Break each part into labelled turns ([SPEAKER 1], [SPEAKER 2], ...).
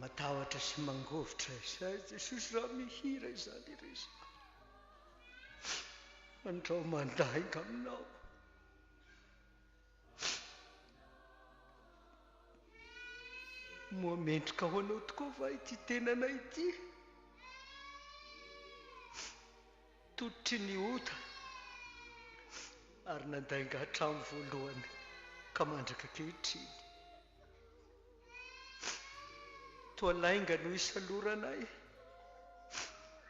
[SPEAKER 1] Matahotra sy mangovitra izay Jesosy raha mihira izany irery Andrao mandainga aminao. Moa mendrika ho anao tokoa va ity tenanay ity? Tototry ny ota ary nandainga hatramin'ny voalohany ka mandraka ankehitriny. Toa lainga no isaloranay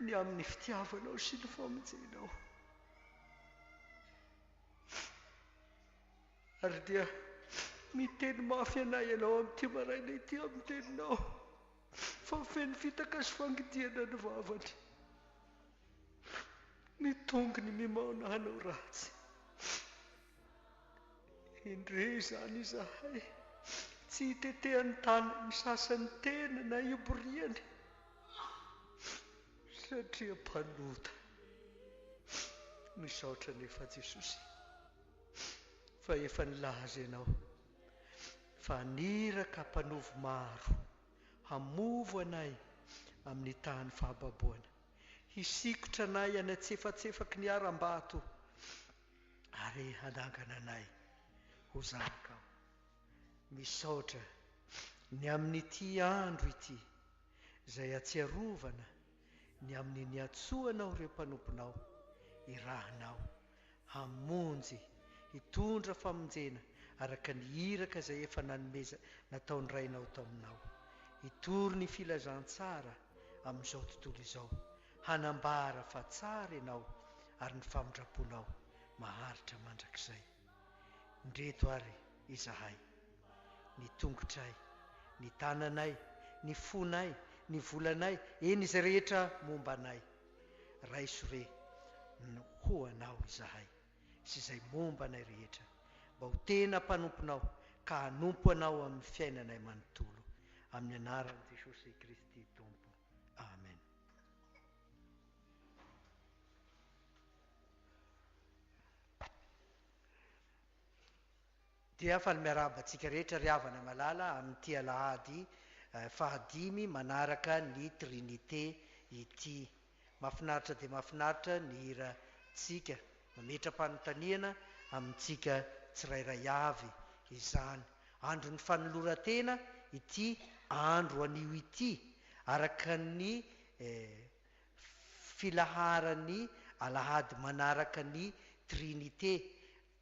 [SPEAKER 1] ny amin'ny fitiavanao sy ny famonjenao. Ary dia miteny mafy anay ianao amin'ity maraina ity amin'ny teninao fa feno fitaka sy fangidihana ny vavany. Ny tongony mimaona hanao ratsy. Indre izany izahay tsy itetehan'ny tanan'ny sasany tena na iboriany satria mpanota. Misaotra anefa Jesosy fa efa nilaza ianao fa haniraka mpanovo maro hamovo anay amin'ny tahan'ny fahababoana, hisikotra anay any antsefatsefaky ny harambato. ary hanangana anay ho zanakao. Misaotra ny amin'ity andro ity izay atsiarovana ny amin'ny niantsoanao ireo mpanomponao irahanao hamonjy hitondra famonjena araka ny iraka izay efa nanomeza nataon'ny Rainao taminao hitory ny filazantsara amin'izao tontolo izao Hanambara fa tsara ianao ary ny famindram-ponao maharitra mandrakizay. Ndreto ary izahay, ny tongotray, ny tananay, ny fonay, ny volanay, eny izay rehetra momba anay. Raiso re ny ho anao izahay sy izay momba anay rehetra mba ho tena mpanomponao ka hanompo anao amin'ny fiainanay manontolo. Amin'ny anaran'i Jesosy Kristy Tompo. Amen. Dia faly miarahaba antsika rehetra ry havana malala amin'ity alahady fahadimy manaraka ny Trinite ity. Mafinaritra dia mafinaritra ny hirantsika. Mametra-panontaniana amintsika tsirairay avy izany. Andron'ny fanoloran-tena ity andro anio ity, araka ny filaharan'ny alahady manaraka ny Trinite,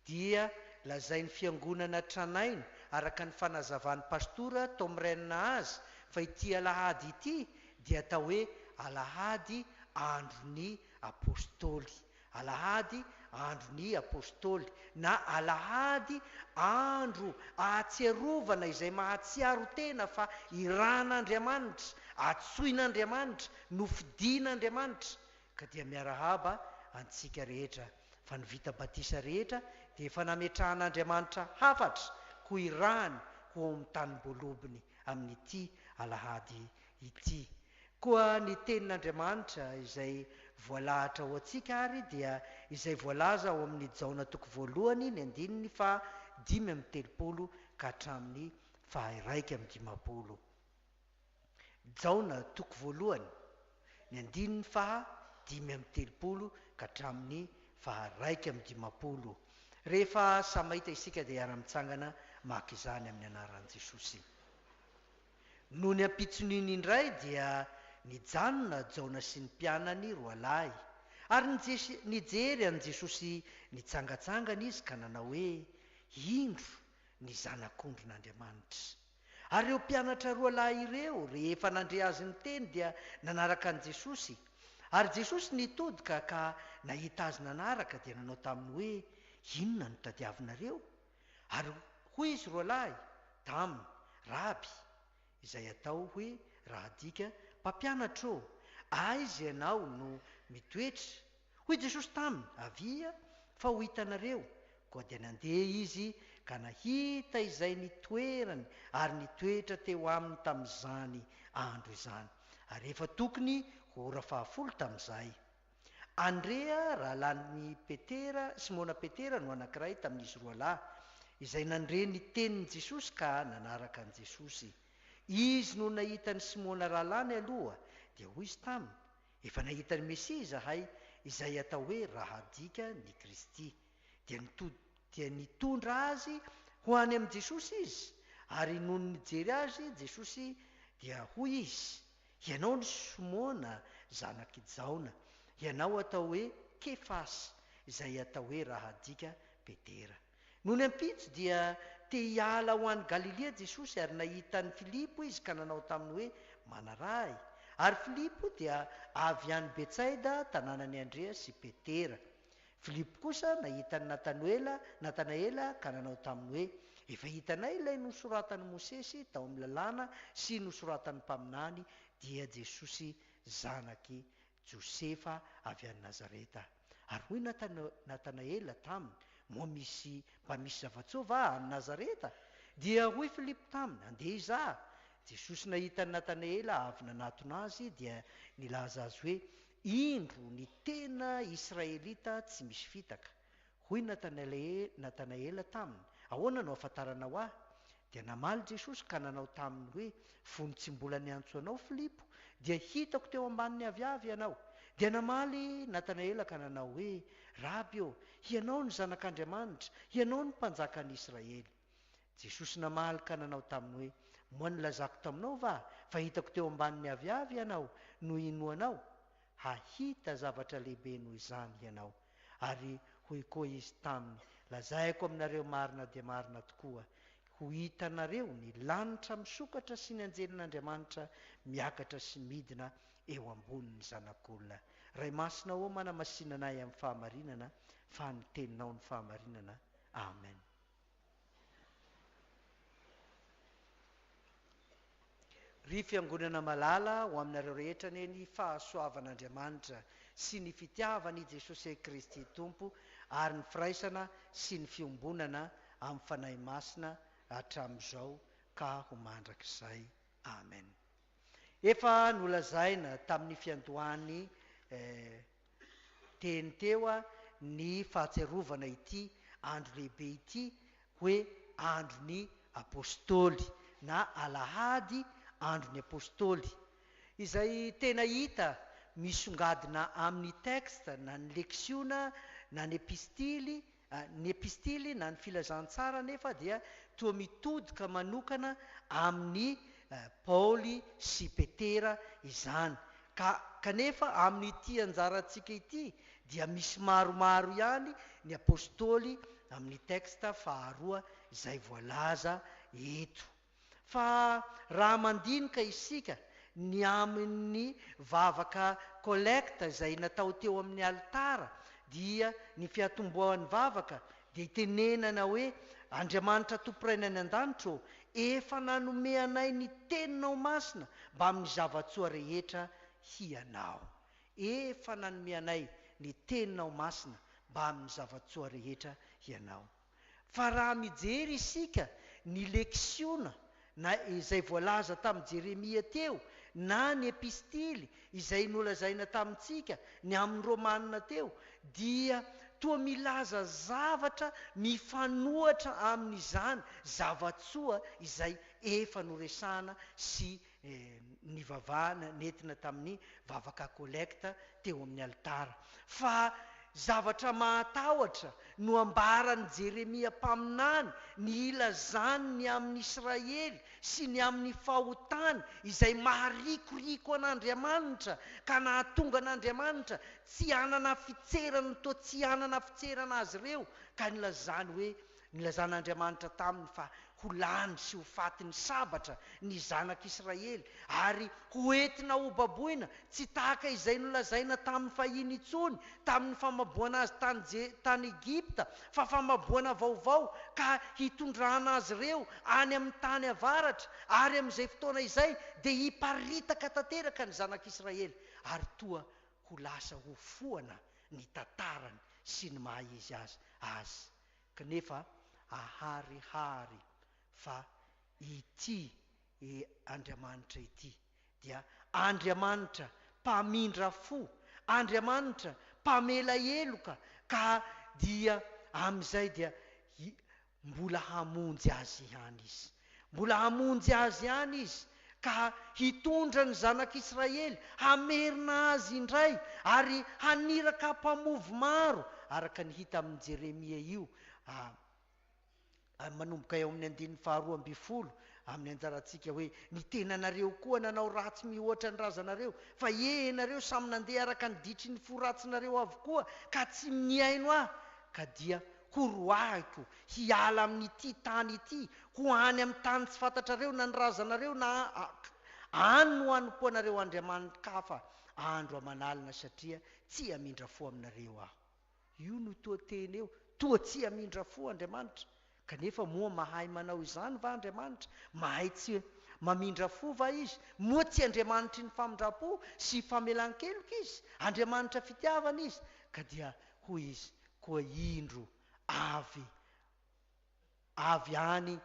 [SPEAKER 1] dia lazain'ny Fiangonana tranainy, araka ny fanazavan'ny Pastora Tom Renn azy, fa ity alahady ity dia atao hoe alahady andron'ny Apostoly, Alahady andron'ny Apostoly na Alahady andro ahatsiarovana izay mahatsiaro tena fa iran'Andriamanitra, atsoin'Andriamanitra, nofidin'Andriamanitra. Ka dia miarahaba antsika rehetra fa ny vita batisa rehetra dia efa nametrahan'Andriamanitra hafatra ho irahany ho ao amin'ny tanim-boalobony amin'ity Alahady ity. Koa ny Tenin'Andriamanitra izay voalahatra ho antsika ary dia izay voalaza ao amin'ny Jaona toko voalohany ny andininy faha dimy amby telopolo ka hatramin'ny faha iraika amby dimampolo. Jaona toko voalohany, ny andininy faha dimy amby telopolo ka hatramin'ny faha iraika amby dimampolo. Rehefa samy mahita isika dia hiara-mitsangana maka izany amin'ny anaran'i Jesosy. Nony ampitson'iny indray dia nijanona Jaona sy ny mpianany roalahy. Ary nijery an'i Jesosy nitsangatsangana izy ka nanao hoe, Indro ny Zanak'ondrin'Andriamanitra. Ary ireo mpianatra roalahy ireo, rehefa nandre azy niteny dia nanaraka an'i Jesosy. Ary Jesosy nitodika ka nahita azy nanaraka dia nanao taminy hoe, Inona no tadiavinareo? Ary hoy izy roalahy taminy, Raby, izay atao hoe raha adika, Mpampianatra ô, aiza ianao no mitoetra? Hoy Jesosy taminy, Avia, fa ho hitanareo. Koa dia nandeha izy ka nahita izay nitoerany ary nitoetra teo aminy tamin'izany andro izany. Ary efa tokony ho ora fahafolo tamin'izay. Andrea, rahalahin'i Petera, Simona Petera no anankiray tamin'izy roa lahy, izay nandre ny tenin'i Jesosy ka nanaraka an'i Jesosy. Izy no nahita an'i Simona rahalahiny aloha, dia hoy izy taminy, Efa nahita ny Mesia izahay, izay atao hoe Rahadika ny Kristy. Dia nitod dia nitondra azy ho any amin'i Jesosy izy, ary nony nijery azy Jesosy, dia hoy izy, Ianao ry Simona zanak' i Jaona, ianao atao hoe Kefasy, izay atao hoe raha adika Petera. Nony ampitso dia te hiala ho any Galilia Jesosy ary nahita an'i Filipo izy ka nanao taminy hoe, Manaraha ahy. Ary Filipo dia avy any Betsaida, tanànan'i Andrea sy Petera. Filipo kosa nahita an'i Natanoela, Natanaela, ka nanao taminy hoe, Efa hitanay ilay nosoratan'i Mosesy tao amin'ny Lalàna sy nosoratan'ny mpaminany, dia Jesosy zanak'i Josefa avy any Nazareta. Ary hoy Natanaela taminy, Moa misy mba misy zava-tsoa va any Nazareta? Dia hoy Filipo taminy, Andeha hizaha. Jesosy nahita an'i Natanaela avy nanatona azy, dia nilaza azy hoe, Indro ny tena Israelita tsy misy fitaka. Hoy Natanaela taminy, Ahoana no ahafantaranao ahy? Dia namaly Jesosy ka nanao taminy hoe, Fony tsy mbola niantso anao Filipo, dia hitako teo ambanin'ny aviavy ianao. Dia namaly Natanaela ka nanao hoe, Raby ô, hianao no Zanak'Andriamanitra, hianao no Mpanjakan'Israely. Jesosy namaly ka nanao taminy hoe, Moa nilazako taminao va, fa hitako teo ambanin'ny aviavy ianao no inoanao? Hahita zavatra lehibe noho izany ianao. Ary hoy koa Izy taminy, Lazaiko aminareo marina dia marina tokoa, ho hitanareo ny lanitra misokatra sy ny anjelin'Andriamanitra miakatra sy midina eo ambonin'ny Zanak'olona. Ray Masina ô, manamasina anay amin'ny fahamarinana, fa ny Teninao no fahamarinana. Amen. Ry Fiangonana malala ho aminareo rehetra anie ny fahasoavan'Andriamanitra sy ny fitiavan'i Jesosey Kristy Tompo ary ny firaisana sy ny fiombonana amin'ny Fanahy Masina hatramin'izao ka ho mandrakizay. Amen. Efa nolazaina tamin'ny fiandohan'ny eh, Teny teo ny fahatsiarovana ity andro lehibe ity hoe andron'ny Apostoly na Alahady andron'ny Apostoly, izay tena hita misongadina amin'ny texte na ny leksiona na ny epistily Ny epistily na ny filazantsara anefa dia toa mitodika manokana amin'i Paoly sy Petera izany, ka kanefa amin'ity anjarantsika ity dia misy maromaro ihany ny apostoly amin'ny texte faharoa izay voalaza eto. Fa raha mandinika isika ny amin' ny vavaka Kolekta izay natao teo amin' ny alitara, dia ny fiatombohan' ny vavaka dia itenenana hoe, Andriamanitra Tompo Rainay any an-danitra ô, efa nanome anay ny Teninao Masina mbamin' ny zava-tsoa rehetra Hianao. Efa nanome anay ny Teninao Masina mbamin' ny zava-tsoa rehetra Hianao. Fa raha mijery isika ny leksiona na izay voalaza tamin'i Jeremia teo na ny epistily izay nolazaina tamintsika ny amin'ny Romanina teo dia toa milaza zavatra mifanohatra amin'izany zava-tsoa izay efa noresahana sy nivavahana, nentina tamin'ny vavaka kolekta teo amin'ny alitara. Fa zavatra mahatahotra no ambaran'i Jeremia mpaminany, ny hilazany ny amin'i Israely sy ny amin'ny fahotany izay maharikoriko an'Andriamanitra, ka nahatonga an'Andriamanitra tsy hanana fitserana toa tsy hanana fitserana azy ireo, ka nilazany hoe, Nilazan'Andriamanitra taminy fa ho lany sy ho faty ny sabatra ny zanak'Israely ary hoentina hobaboina tsy tahaka izay nolazaina tamin'ny fahiny intsony tamin'ny famaboana azy tany Je, tany Egypta, fa famaboana vaovao ka hitondrana azy ireo any amin'ny tany avaratra, ary amin'izay fotoana izay dia hiparitaka tanteraka ny zanak'Israely ary toa ho lasa hofoana ny tantarany sy ny maha-izy azy azy. Knefa aharihary fa ity Andriamanitra ity dia Andriamanitra mpamindra fo, Andriamanitra mpamela heloka ka dia amin'izay dia mbola hamonjy azy ihany Izy. Mbola hamonjy azy ihany Izy, ka hitondra ny Zanak'Israely hamerina azy indray, ary haniraka mpamovo maro, araka ny hita amin'i Jeremia io, manomboka eo amin'ny andininy faharoa ambin'ny folo, amin'ny anjarantsika hoe, Ny tenanareo koa nanao ratsy mihoatra ny razanareo, fa ie ianareo samy nandeha araka ny ditry ny fo ratsinareo avokoa, ka tsy nihaino Ahy, ka dia Koa roahiko, hiala amin'ity tany ity, ho any amin'ny tany tsy fantatrareo na ny razanareo na Ahy. Any no hanompo anareo andriamani-kafa andro aman'alina, satria tsy hamindra fo aminareo Aho. Io no toa teny eo, Toa tsy hamindra fo Andriamanitra. Kanefa moa mahay manao izany va Andriamanitra? Mahay tsy mamindra fo va Izy? Moa tsy Andriamanitry ny famindram-po sy famelan-keloka Izy? Andriamanitra fitiavana Izy. Ka dia hoy Izy, Koa indro, avy, avy any,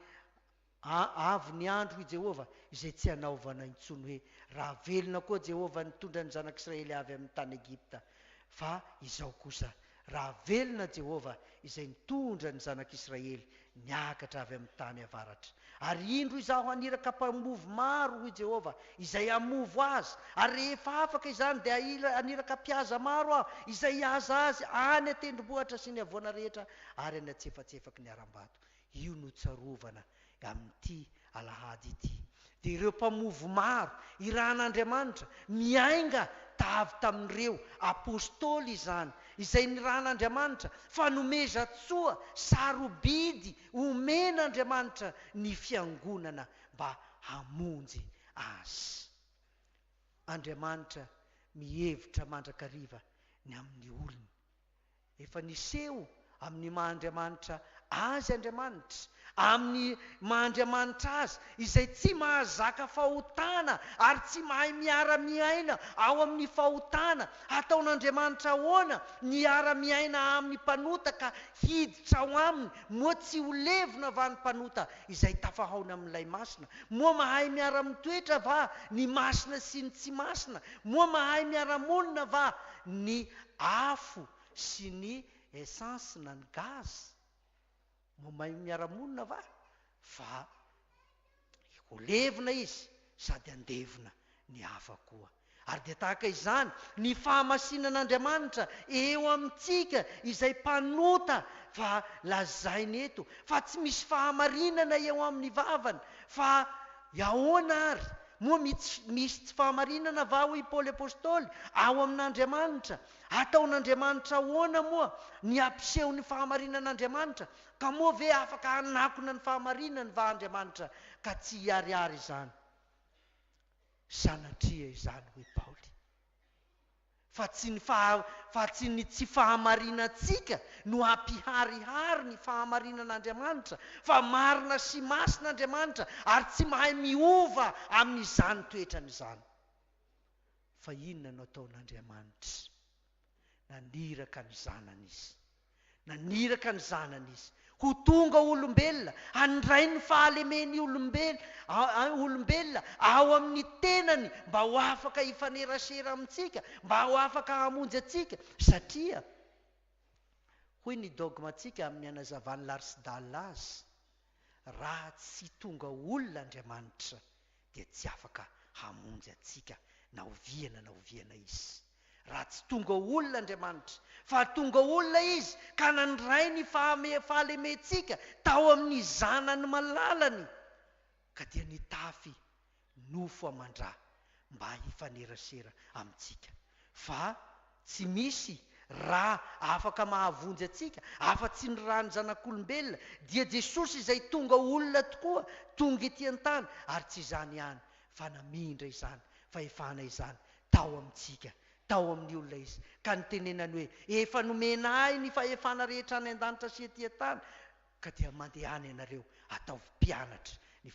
[SPEAKER 1] a, avy ny andro, hoy Jehovah, izay tsy hanaovana intsony hoe, Raha velona koa Jehovah nitondra ny zanak'Israely avy amin'ny tany Egypta, fa izao kosa, Raha velona Jehovah izay nitondra ny zanak'Israely Niakatra avy amin'ny tany avaratra, ary indro izaho haniraka mpamovo maro, hoy Jehovah, izay hamovo azy, ary rehefa afaka izany, dia haniraka mpihaza maro aho, izay hihaza azy any an-tendrombohitra sy ny havoana rehetra ary any antsefatsefaky ny harambato. Io no tsarovana amin'ity Alahady ity dia ireo mpamovo maro irahan'Andriamanitra miainga tavy tamin'ireo Apostoly izany izay nirahan'Andriamanitra fa nomezan-tsoa sarobidy omen'Andriamanitra ny fiangonana mba hamonjy azy. Andriamanitra mihevitra mandrakariva ny amin'ny olony. Efa niseho amin'ny maha Andriamanitra Azy Andriamanitra, amin'ny maha Andriamanitra Azy izay tsy mahazaka fahotana ary tsy mahay miara-miaina ao amin'ny fahotana. Hataon'Andriamanitra ahoana ny hiara-miaina amin'ny mpanota ka hiditra ao aminy? Moa tsy ho levona va ny mpanota izay tafahaona amin'ilay Masina? Moa mahay miara-mitoetra va ny masina sy ny tsy masina? Moa mahay miara-monina va ny afo sy ny essence na ny gaz? Mba mahay miara-monina va? Fa ho levona izy sady handevona ny hafa koa. Ary dia tahaka izany ny fahamasinan'Andriamanitra eo amintsika izay mpanota fa lazainy eto fa tsy misy fahamarinana eo amin'ny vavany fa Ahoana àry? Moa misy tsy fahamarinana va, hoy i Paoly apostoly, ao amin'Andriamanitra? Ataon'Andriamanitra ahoana moa ny hampiseho ny fahamarinan'Andriamanitra? Ka moa ve afaka hanakona ny fahamarinany va Andriamanitra ka tsy hiharihary izany? Sanatria izany, hoy Paoly. fa tsy ny faha, fa tsy ny tsy fahamarinantsika no hampiharihary ny fahamarinan'Andriamanitra, fa marina sy masina Andriamanitra ary tsy mahay miova amin'izany toetrany izany. Fa inona no ataon'Andriamanitra? Naniraka ny Zanany Izy. Naniraka ny Zanany Izy ho tonga olombelona handray ny fahalemen'ny olombelona ao amin'ny tenany mba ho afaka hifanerasera amintsika, mba ho afaka hamonjy antsika, satria, hoy ny dogmantsika amin'ny hanazavan'i Larsdale azy, Raha tsy tonga olona Andriamanitra dia tsy afaka hamonjy antsika na oviana na oviana izy. Raha tsy tonga olona Andriamanitra, fa tonga olona izy ka nandray ny fahalementsika tao amin'ny zanany malalany ka dia nitafy nofo aman-dra mba hifanerasera amintsika, fa tsy misy ra afaka mahavonjy antsika afa-tsy ny ran'ny Zanak'olombelona, dia Jesosy izay tonga ho olona tokoa, tonga ety an-tany, ary tsy izany ihany, fa namindra izany fahefana izany tao amintsika, tao amin'ny olona Izy, ka nitenenany hoe, Efa nomena Ahy ny fahefana rehetra any an-danitra sy ety an-tany, Ka dia mandehana ianareo ataovy mpianatry ny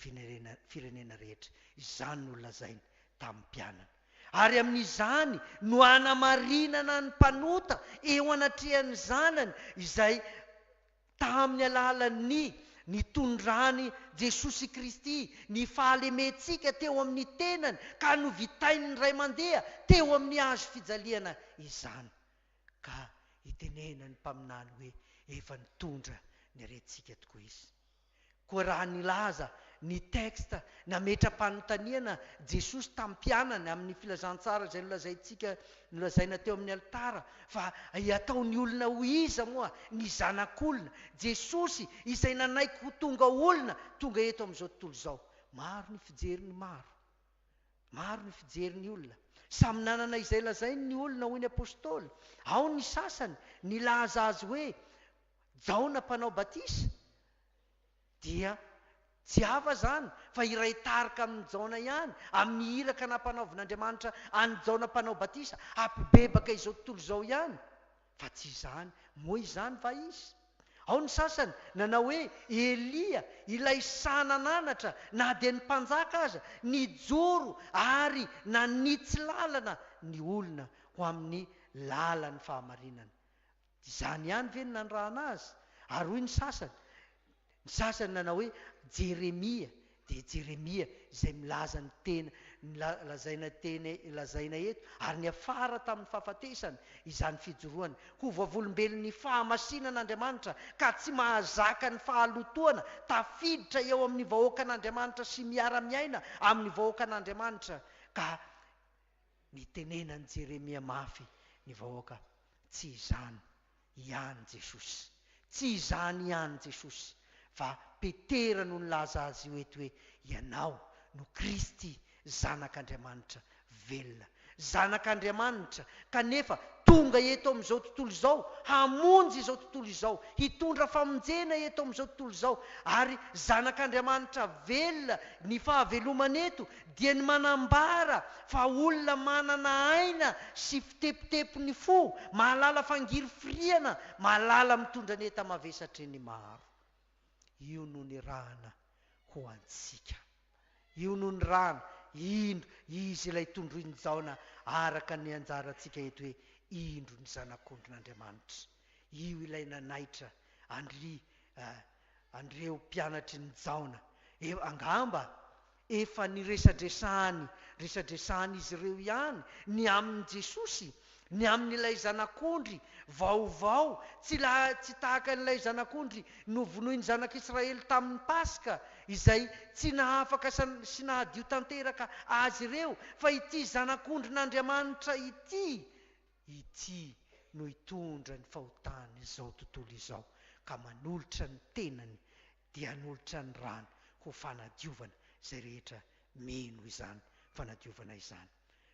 [SPEAKER 1] firenena rehetra, izany no lazainy tamin'ny mpianany. Ary amin'izany no hanamarinana ny mpanota eo anatrehan'ny zanany izay tamin'ny alalan'ny nitondrany Jesosy Kristy ny fahalementsika teo amin'ny tenany ka novitain'ny Ray mandeha teo amin'ny hazo fijaliana izany. Ka itenena ny mpaminany hoe efa nitondra ny aretintsika tokoa izy. Koa raha nilaza ny texte nametra-panontaniana Jesosy tamin'ny mpianany amin'ny filazantsara izay nolazaintsika nolazaina teo amin'ny alitara fa hataon'ny olona ho iza moa ny Zanak'olona, Jesosy izay nanaiky ho tonga olona tonga eto amin'izao tontolo izao. Maro ny fijery ny maro. Maro ny fijery ny olona. Samy nanana izay lazainy ny olona hoy ny Apostoly. Ao ny sasany nilaza azy hoe Jaona mpanao batisa. Dia tsy hafa izany fa hiray tarika amin'i Jaona ihany amin'ny iraka nampanaovin'Andriamanitra an'i Jaona mpanao batisa hampibebaka izao tontolo izao ihany. Fa tsy izany. Moa izany va izy? Ao ny sasany nanao hoe Elia, ilay sahy nananatra na dia ny mpanjaka aza, nijoro ary nanitsy lalana ny olona ho amin'ny lalan'ny fahamarinana. Izany ihany ve no nanirahana azy? Ary hoy ny sasany, Ny sasany nanao hoe Jeremia dia Jeremia izay milaza ny tena ny la, lazaina teny, lazaina eto, ary niafara tamin'ny fahafatesany izany fijoroany ho vavolombelon'ny fahamasinan'Andriamanitra ka tsy mahazaka ny fahalotoana, tafiditra eo amin'ny vahoakan'Andriamanitra sy miara-miaina amin'ny vahoakan'Andriamanitra, ka nitenenan'i Jeremia mafy ny vahoaka, Tsy izany Ihany Jesosy. Tsy izany ihany Jesosy fa Petera no nilaza Azy io eto hoe Ianao no Kristy, Zanak'Andriamanitra velona. Zanak'Andriamanitra, kanefa tonga eto amin'izao tontolo izao hamonjy izao tontolo izao, hitondra famonjena eto amin'izao tontolo izao. Ary Zanak'Andriamanitra velona, ny fahavelomany eto dia ny manambara fa olona manana aina sy. Mpitepitepi ny fo, mahalala fangiry firiana, mahalala mitondra ny enta mavesatry ny maro. Io no nirahana ho antsika. Io no nirahana, indro, izy ilay tondroin'i Jaona araka ny anjarantsika eto hoe indro ny Zanak'ondrin'Andriamanitra. Io ilay nanaitra an-dry An'ireo mpianatry ny Jaona, angamba efa niresadresahany resadresahan'izy ireo ihany ny amin'i Jesosy, ny amin'ilay Zanak'ondry vaovao tsy tsy tahaka an'ilay Zanak'ondry novonoin'ny Zanak'Israely tamin'ny Paska, izay tsy nahafaka sy nahadio tanteraka azy ireo, fa ity Zanak'ondrin'Andriamanitra ity, Ity no hitondra ny fahotan' izao tontolo izao, ka manolotra ny tenany dia hanolotra ny rany ho fanadiovana izay rehetra mino izany fanadiovana izany.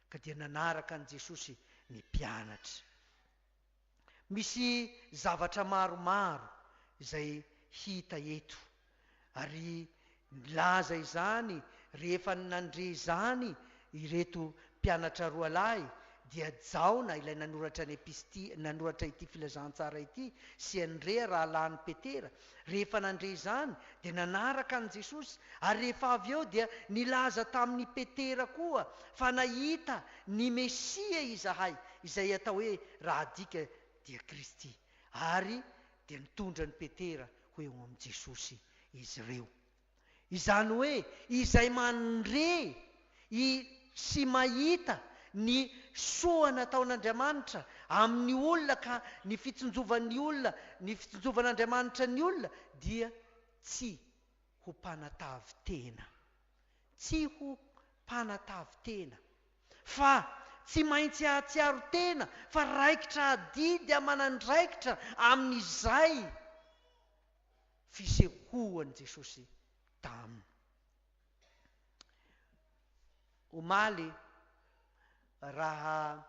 [SPEAKER 1] Ka dia nanaraka an'i Jesosy ny mpianatra. Misy zavatra maromaro izay hita eto. Ary nilaza izany rehefa nandre izany ireto mpianatra roa lahy, dia Jaona ilay nanoratra ny episty, nanoratra ity filazantsara ity, sy Andrea rahalahin'i Petera. Rehefa nandre izany, dia nanaraka an'i Jesosy, ary rehefa avy eo dia nilaza tamin'i Petera koa fa nahita ny Mesia izahay, izay atao hoe raha adika dia Kristy. Ary Dia nitondra an'i Petera ho eo amin'i Jesosy izy ireo. Izany hoe izay mandre i sy mahita ny soa nataon'Andriamanitra amin'ny olona ka ny fitsinjovan'ny olona, ny fitsinjovan'Andriamanitra ny olona dia tsy ho mpanatavy tena. Tsy ho mpanatavin-tena. Fa tsy maintsy hahatsiaro tena fa raikitra adidy aman'andraikitra amin'izay fisehoan'i Jesosy taminy. Omaly, raha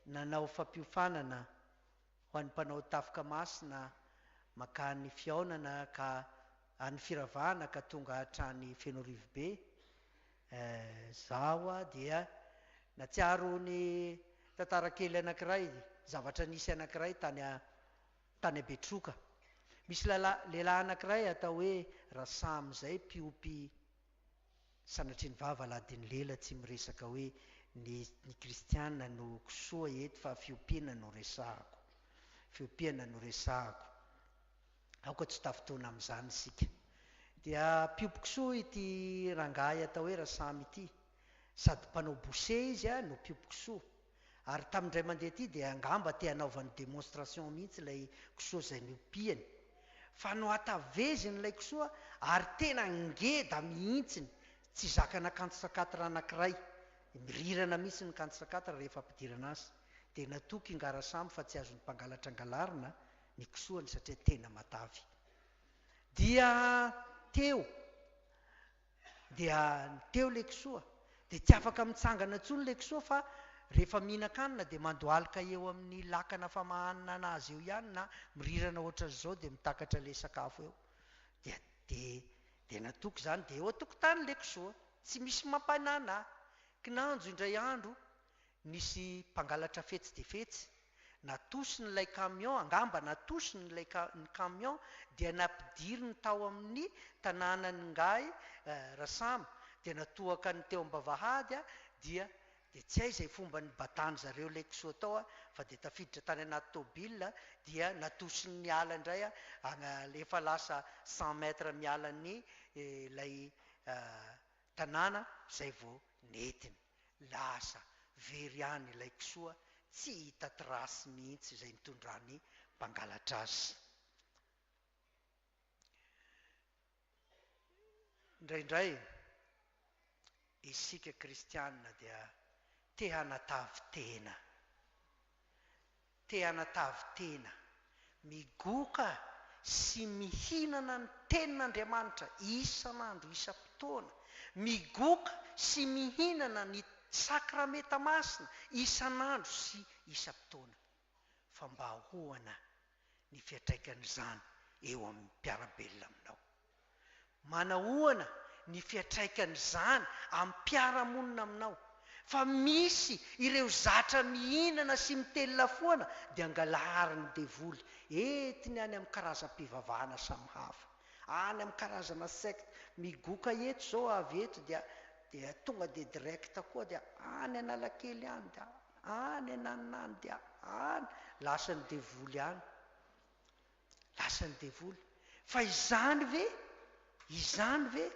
[SPEAKER 1] nanao fampiofanana, Ho an'ny mpanao tafoka masina, mankany fihaonana ka any firavahana ka tonga hatrany Fenorivobe, eh, za ho'a dia natsiaro ny tantara kely anankiray, zavatra nisy anankiray tany a, tany a Betroka. Misy lala, lehilahy anankiray atao hoe Rasamy zay mpiompy, Sanatria ny vava aladin'ny lela tsy miresaka hoe ny ny kristiana no kisoa eto fa fiompiana no resahako. Fiompiana no resahako. Aoka tsy ho tafintohina amin'izany isika. Dia mpiompy kisoa ity rangahy atao hoe Rasamy ity. Sady mpanao boucher izy no mpiompy kisoa. Ary tamin'ny indray mandeha ity dia angamba te hanaovany demonstration mihitsy ilay kisoa izay niompiany fa nohataveziny ilay kisoa ary tena ngeda mihitsiny, tsy zakana kanto sakatra anankiray, mirirana mihitsy ny kanto sakatra rehefa ampidirana azy, dia natoky i Ngarasamy fa tsy azon'ny mpangalatra angalarina ny kisoany satria tena matavy. Dia teo. Dia ny teo Lekisoa, dia tsy afaka mitsangana intsony Lekisoa fa rehefa mihinan-kanina dia mandohalika eo amin'ny lakana famahanana azy eo ihany na mirirana ohatran'izao dia mitakatra ilay sakafo eo. Dia dia dia natoky izany dia eo an-tokotany Lekisoa, tsy misy mampanana ahy. Kinanjo indray andro Nisy mpangalatra fetsy dia fetsy, natosiny ilay camion, angamba natosiny ilay camion dia nampidiriny tao amin'ny tanànan'ingahy Rasamy dia natohaka ny teo am-bavahady dia dia tsy hay izay fomba nibadan-dry zareo ilay kisoa tao fa dia tafiditra tany anaty tôbila dia natosiny niala indray efa lasa cent mètres miala ny ilay Tanàna izay vao nentiny. Lasa very any ilay kisoa tsy hita trace mihitsy izay nitondra ny mpangalatra azy. Indraindray isika kristiana dia te hanatavy tena. Te hanatavy tena, migoka sy mihinana ny Tenin'Andriamanitra isan'andro isam-potoana, migoka sy mihinana ny Sakramenta Masina isan'andro sy isam-potoana, fa mba ahoana ny fiantraikan'izany eo amin'ny mpiara-belona aminao? Manahoana ny fiatraikan'izany amim-piarahamonina aminao? Fa misy ireo zatra mihinana sy mitelina foana dia angalarin'ny devoly entiny any amin'ny karazam-pivavahana samy hafa, any amin'ny karazana secte migoka eto izao avy eto dia dia tonga dia direct koa dia any Analakely any dia any ananona any dia any lasan'ny devoly any. Lasan'ny devoly. Fa izany ve? Izany ve?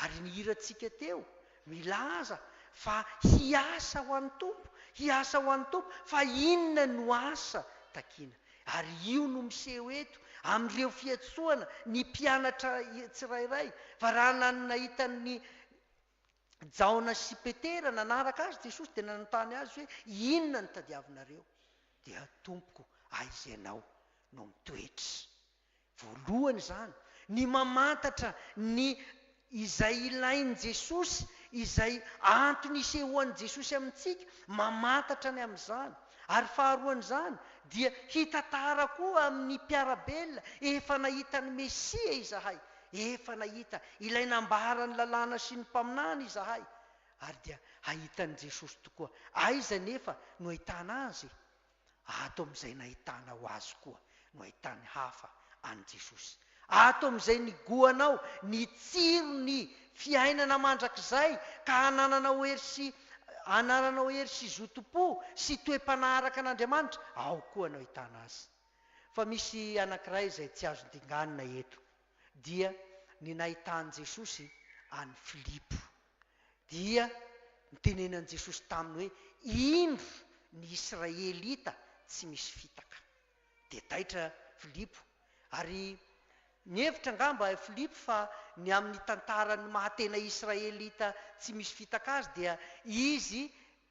[SPEAKER 1] Ary ny hirantsika teo milaza fa hiasa ho an'ny Tompo, hiasa ho an'ny Tompo, fa inona no asa takiana? Ary io no miseho eto amin'ireo fiantsoana ny mpianatra tsirairay, fa raha nanana hitan'ny. Jaona sy Petera nanaraka Azy, Jesosy dia nanontany azy hoe, Inona no tadiavinareo? Dia, Tompoko, aiza Ianao no mitoetra? Voalohany izany, ny mamantatra ny izay ilain'i Jesosy, izay antony isehoan'i Jesosy amintsika, mamantatra ny amin'izany. Ary faharoan'izany, dia hitantara koa amin'ny mpiara-belona, Efa nahita ny Mesia izahay, Efa nahita ilay nambaran'ny lalàna sy ny mpaminany izahay, ary dia hahita an'i Jesosy tokoa. Aiza anefa no ahitana Azy e? Ato amin'izay nahitanao Azy koa no ahitan'ny hafa an'i Jesosy. Ato amin'izay nigoanao ny tsiron'ny fiainana mandrakizay ka hanananao hery sy hanananao hery sy zotom-po sy toe-panahy araka an'Andriamanitra, ao koa no ahitana Azy. Fa misy anankiray izay tsy azo dinganina eto, dia ny nahitan'i Jesosy an'i Filipo. Dia nitenenan'i Jesosy taminy hoe, Indro ny Israelita tsy misy fitaka. Dia taitra Filipo, ary nihevitra angamba i Filipo fa ny amin'ny tantaran'ny maha-tena Israelita tsy misy fitaka azy dia izy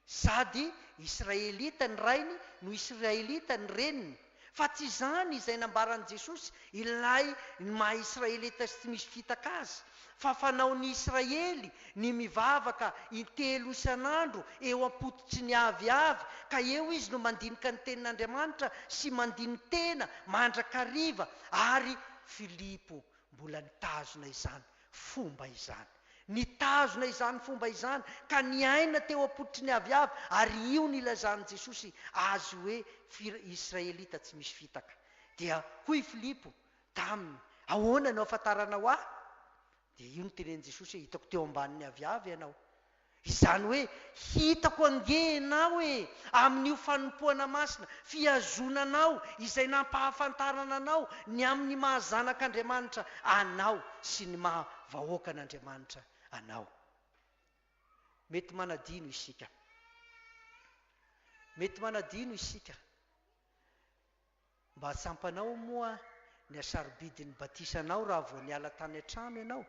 [SPEAKER 1] Sady Israelita ny rainy no Israelita ny reniny. Fa tsy izany izay nambaran'i Jesosy, ilay ny maha Israelita sy tsy misy fitaka azy. Fa fanaon'ny Israely ny mivavaka intelo isan'andro eo am-pototry ny aviavy, ka eo izy no mandinika ny Tenin'Andriamanitra sy mandini-tena mandrakariva, ary Filipo mbola nitazona izany Fomba izany. Nitazona izany fomba izany ka niaina teo am-pototry ny aviavy ary io no ilazan'i Jesosy azy hoe fir Israelita tsy misy fitaka. Dia hoy i Filipo taminy, Ahoana no ahafantaranao ahy? Dia io no tenenin'i Jesosy hoe, Hitako teo ambanin'ny aviavy ianao. Izany hoe, hitako ange ianao e! Amin'io fanompoana masina, fihazoana anao izay nampahafantarana anao ny amin'ny maha zanak'Andriamanitra anao sy ny maha vahoakan'Andriamanitra anao. Mety manadino isika. Mety manadino isika. Mba tsampanao moa ny hasarobidin'ny batisanao raha vao niala tany an-trano ianao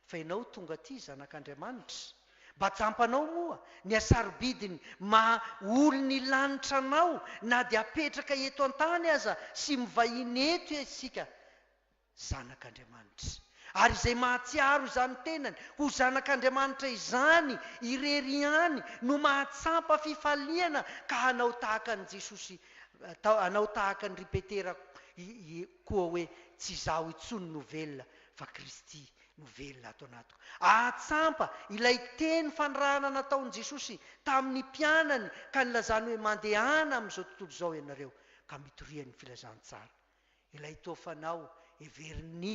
[SPEAKER 1] fa ianao tonga aty zanak'Andriamanitra? Mba tsampanao moa ny hasarobidin'ny maha olon'ny lanitra anao na dia apetraka eto an-tany aza sy mivahiny eto isika Zanak'Andriamanitra. Ary izay mahatsiaro izany tenany ho zanak'Andriamanitra izany irery ihany no mahatsampa fifaliana ka hanao tahaka an'i Jesosy, hanao tahaka an-dry Petera koa hoe, Tsy izaho intsony no velona fa Kristy no velona ato anatiko. Ahatsampa ilay teny fanirahana nataon'i Jesosy tamin'ny mpianany ka nilazany hoe, Mandehana amin'izao tontolo izao ianareo ka mitorian'ny filazantsara. Ilay toa fanao heverin'i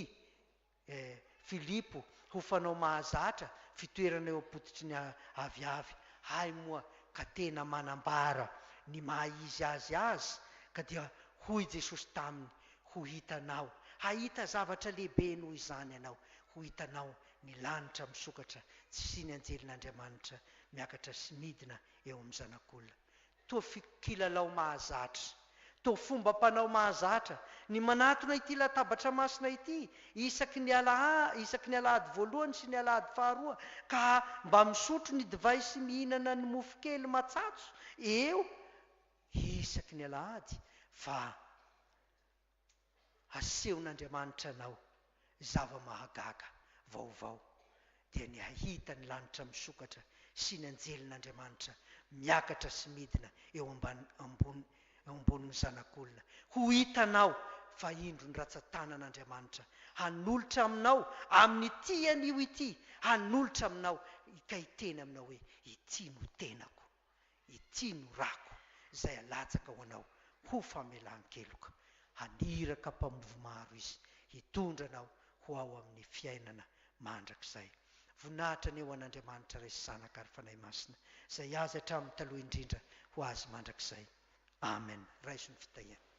[SPEAKER 1] Filipo ho fanao mahazatra fitoerana eo am-pototry ny aviavy, hay moa ka tena manambara ny maha izy azy azy, ka dia hoy Jesosy taminy, Ho hitanao, hahita zavatra lehibe noho izany ianao, ho hitanao ny lanitra misokatra, tsy ny anjelin'Andriamanitra miakatra sy midina eo amin'ny Zanak'olona. Toa fiko kilalao mahazatra, toa fombam-panao mahazatra ny manatona ity latabatra masina ity isaky ny alaha, isaky ny alahady voalohany sy ny alahady faharoa ka mba misotro ny divay sy mihinana ny mofo kely matsatso eo isaky ny alahady fa Hasehon'Andriamanitra anao zava-mahagaga vaovao, dia ny hahita ny lanitra misokatra sy ny anjelin'Andriamanitra miakatra sy midina eo ambany eo ambonin'ny Zanak'olona. Ho hitanao fa indro ny ratsan-tanan'Andriamanitra hanolotra aminao amin'ity anio ity, hanolotra aminao hikay teny aminao hoe, Ity no tenako. Ity no rako, izay alatsaka ho anao ho famelan-keloka. Haniraka mpamovo maro Izy hitondra anao ho ao amin'ny fiainana mandrakizay. Voninahitra anie ho an'Andriamanitra Ray sy Zanaka ary Fanahy Masina, izay azy hatramin'ny taloha indrindra ho azy mandrakizay. Amen raiso ny fitahiana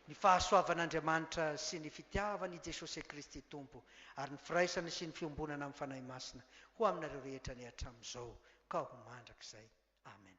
[SPEAKER 1] ny fahasoavan'Andriamanitra sy ny fitiavan i Jesosy Kristy Tompo ary ny firaisana sy ny fiombonana amin'ny Fanahy Masina ho aminareo rehetra anie hatramin'izao ka ho mandrakizay Amen.